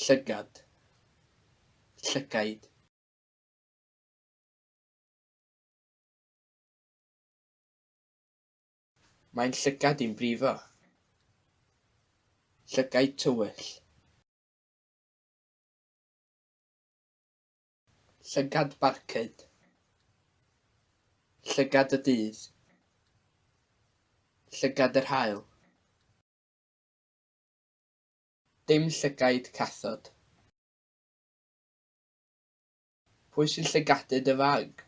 Llygad, llygaid. Mae'n llygad i'n brifo. Llygaid tywyll. Llygad Barcud Llygad y Dydd Llygad yr Haul Dim Llygaid Cathod Pwy sy'n llygadu dy fag?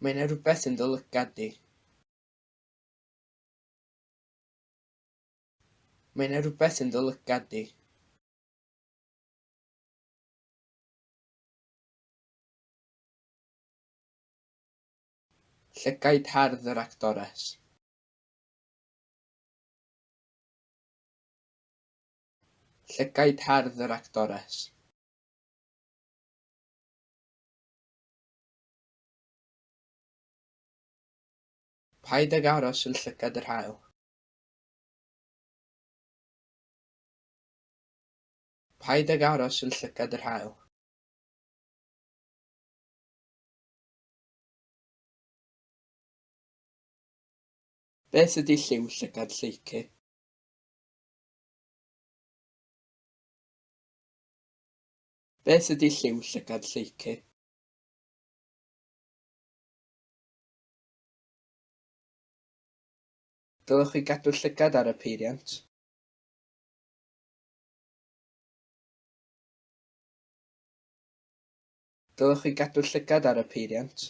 Mae 'na rywbeth yn dy lygad di. Mae 'na rywbeth yn dy lygad di. Llygaid hardd yr actores. Llygaid hardd yr actores. Paid ag aros yn llygad yr haul. Paid ag aros yn llygad yr haul. Beth ydy lliw llygad lleucu? Beth ydy lliw llygad lleucu? Dylech chi gadw llygad ar y peiriant? Dylech chi gadw llygad ar y peiriant?